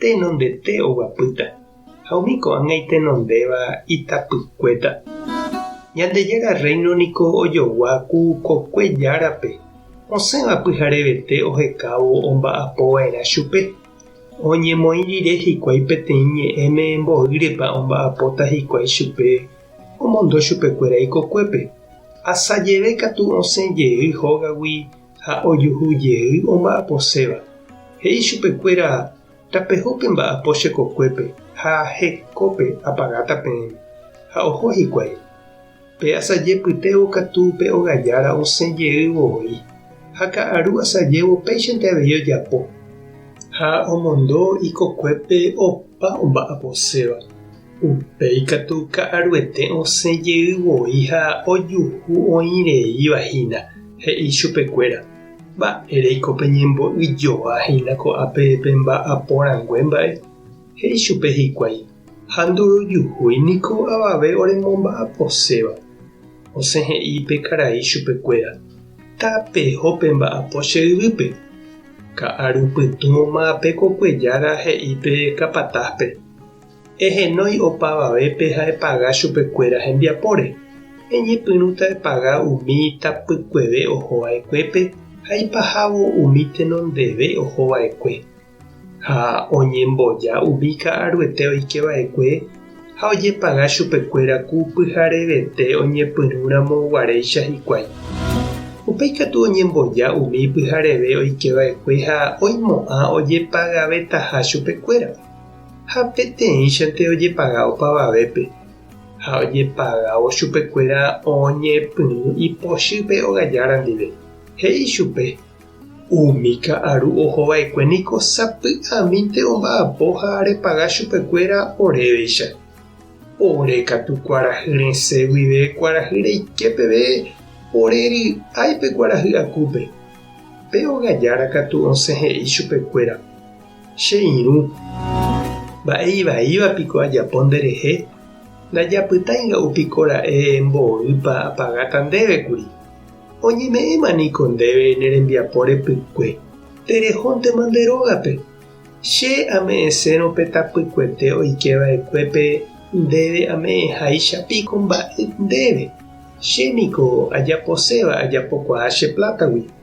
Tenondete oguapýta, ha umi ko'ág̃a itenondéva itapykuéta. Ñandejára Rréino niko ojogua ku kokue Járape, osẽva pyharevete ohekávo omba'apo va'erã chupe. Oñemoĩ rire hikuái peteĩ ñe'ẽme mboýrepa omba'apóta hikuái chupe omondo chupekuéra ikokuépe. Asajeve katu osẽ jey hógagui ha ojuhu jey omba'aposéva, he'i chupekuéra, Tapeho pe mba'apo che kokuépe ha ahe kópe apagáta peẽme. Ha oho hikuái. Pe asajepytévo katu pe ogajára osẽ jeývo voi, ha ka'aru asajévo péichante avei ojapo. Ha omondo ikokuépe opa omba'aposéva. Upéi katu ka'aruete osẽ jey voi ha ojuhu oĩ reíva hína, he'i chupe kuéra, Mba'éreiko peñembo'y joa hína ko'ápe pe mba'apo rangue mba'e? He'i chupe hikuái, Ha ndorojuhúi niko avave ore momba'aposéva. Osẽ he'i pe karai chupe kuéra, Tapeho pe mba'apo che yvýpe. Ka'aru pytũ oma'ape ko kuejára he'i pe kapatáspe, Ehenói opavavépe ha epaga chupekuéra hembiapóre. Eñepyrũta epaga umi tapykueve oho va'ekuépe ha ipahávo umi tenondeve oho va'ekue. Ha oñemboja umi ka'aruete oike va'ekue ha ojepaga chupekuéra ku pyharevete oñepyrũ ramo guaréicha hikuái. Upéi katu oñemboja umi pyhareve oike va'ekue ha oimo'ã ojepagavetaha chupekuéra. ha peteĩchante ojepaga opavavépe ha ojepagávo chupekuéra oñepyrũ ipochýpe ogajára ndive, he'i chupe, Umi ka'aru ohova'ekue niko sapy'amínte omba'apo ha repaga chupekuéra oréveicha. Ore katu kuarahy resẽ guive kuarahy reike peve ore ry'ái pe kuarahy akúpe. Pe ogajára katu osẽ he'i chupekuéra, Che irũ, mba'e ivaíva piko ajapo nderehe? Ndajapytái nga'u piko ra'e mboýpa apagáta ndéve kuri. Oñeme'ẽma niko ndéve ne rembiapo repykue, terehóntema nde rógape. Che ame'ẽsérõ pe tapykuete oike va'ekuépe ndéve ame'ẽháicha piko mba'e ndéve. Che niko ajaposéva ajapokuaa che plátagui.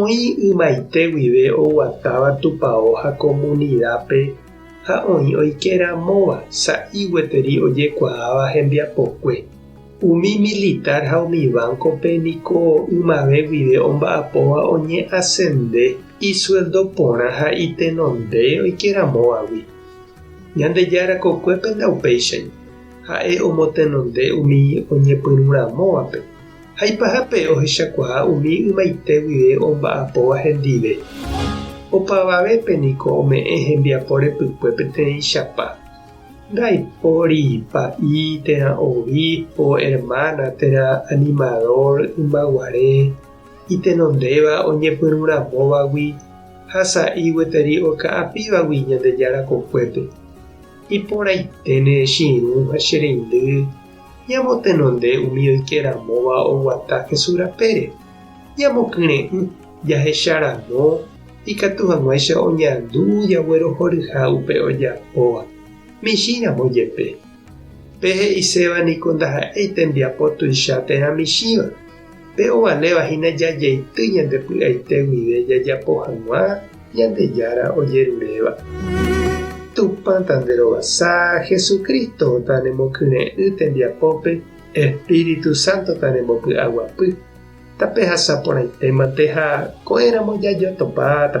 Oĩ ymaite guive oguatáva tupao ha komunidápe ha oĩ oike ramóva sa'i gueteri ojekuaáva hembiapokue. Umi militár ha umi vánkope niko ymave guive omba'apóva oñe'asende isueldo porã ha itenonde oike ramóvagui. Ñandejára kokuépe ndaupéichai, ha'e omotenonde umi oñepyrũramóvape. Haipahápe ohechakuaa umi ymaite guive omba'apóva hendive. Opavavépe niko ome'ẽ hembiapo repykue peteĩchapa. Ndaipóri pa'i térã obispo, hermana térã animador ymaguare itenondéva oñepyrũramóvagui ha sa'i gueteri oka'apívagui Ñandejára kokuépe. Iporãiténe che irũ ha che reindy Ñamotenonde umi oike ramóva oguata Jesús rapére. Ñamokyre'ỹ jahecha ramo ikatu hag̃uáicha oñandu jaguerohoryha upe ojapóva, michĩ ramo jepe. Pe he'iséva niko ndaha'éi tembiapo tuicha térã michĩva. Pe ovaléva hína jajeity ñande py'aite guive jajapo hag̃ua Ñandejára ojeruréva. Tupãta nde rovasa, Jesucristo-ta ne mokyre'ỹ tembiapópe, Espíritu Santo-ta ne mbopy'aguapy. Tape hasa porãitémante ha ko'ẽramo jajotopáta.